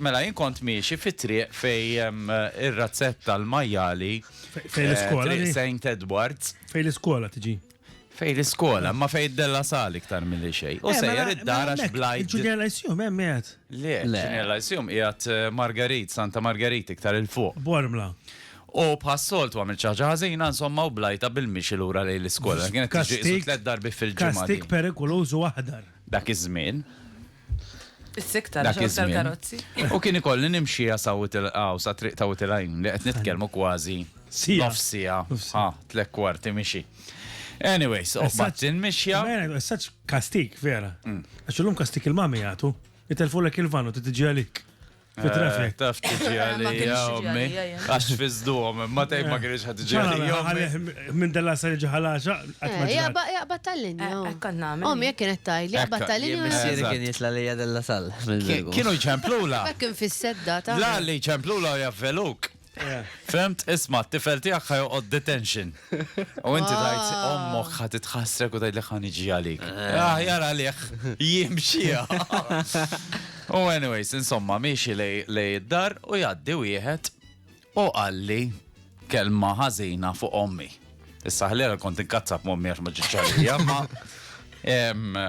Mela jien kont miexi fit-triq fejn ir-razzetta l-majjali Fejn l-iskola triq di? Saint Edwards. Fejn l-iskola tiġi? Fejn l-iskola, imma fejn id-Della Sal iktar milli xejn. U sejjer id-dar għax bla id- Il-Junior Lyceum hemm qiegħed. Le, il-Junior Lyceum qiegħed Margarit, Santa Margarit iktar 'il fuq. Bormla. U bħas-soltu għamilt xi ħaġa ħażina insomma u blajtha bil-mixi lura lejn l-iskola. Kienet tiġi qisu tliet darbiet fil-ġimgħa din. Kastig perikoluż u aħdar. Dak iż-żmien. Is-sikta Dak ġew iż-żmien. tal-karozzi. U kien ikolli nimxiha sa Witil hawn sa triq ta' Witil Għajn li qed nitkellmu kważi Siegħa. nofs siegħa, Nofs siegħa. ha, tliet kwarti mixi. Anyways, u Messaġġ- qbadtni l-mixja. Vera, Messaġġ kastik, vera. Għax illum kastik il-mami jagħtu. Itelfulek il-van u titiġi għalik. Fit-traffic. Eh, taf tiġi għalija, ommi. Għax fizduhom, ma tajb ma eh, kienx ħad tiġi għalija. Minn della sa jiġi ħalaxa. Eh, jaqbad tal-linja. Ommi jek kienet tajli, jaqbad tal-linja. Missiri kien jitla lija della sal. Kienu jċemplula. Kien fis-sedda ta' La li jċemplula u javveluk. Femt, isma, t-tifel tijak ħajoqod detention. U inti ah. tajt, ommok ħat itħassrek u tajt li ħan iġi għalik. Eh. Ah, jara liħ, jimxija. U anyways, insomma, miexi lej id-dar u jaddi wieħed u għalli kelma ħazina fuq ommi. Issa ħlera kont inkazzab mommi għax ma ġiċċarija, ma.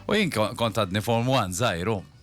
U jien kont għadni form 1 zaħiru.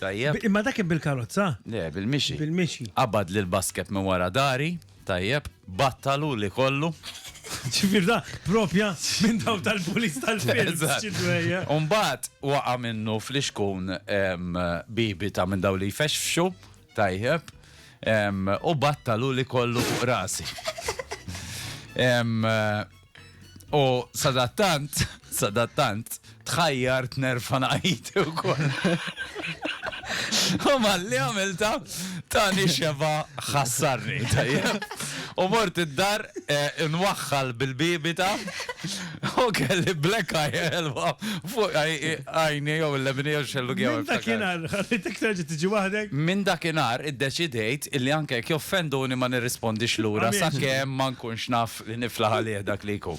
Tajjeb. B- Imma dak kien bil-karozza? Le, bil-mixi. Bil-mixi. Qabad lil basket minn wara dari, tajjeb, battalu li kollu. Ġifier da propja minn daw tal-pulis tal-films. Eżatt. xi dwejja. U mbagħad waqa' minnu flixkun em, bibita minn daw li jfexfxu, tajjeb, em, u battalu li kollu fuq rasi. Em, U sadattant, sadattant, tħajjar tnerfa naqajti u koll. U malli għamilta tani xeba ħassarni. U mort id-dar eh, nwaxħal bil-bibita u kelli black eye elwa fuq għajni jew l-lemini jew xellu għew. Minn dakinar, għalittek terġi tiġi wahdek? Minn dakinar id-deċidejt illi anke joffenduni ma nirrispondix l-ura sa' kem ma nkunx naf Li niflaħ għalih dak li jkun.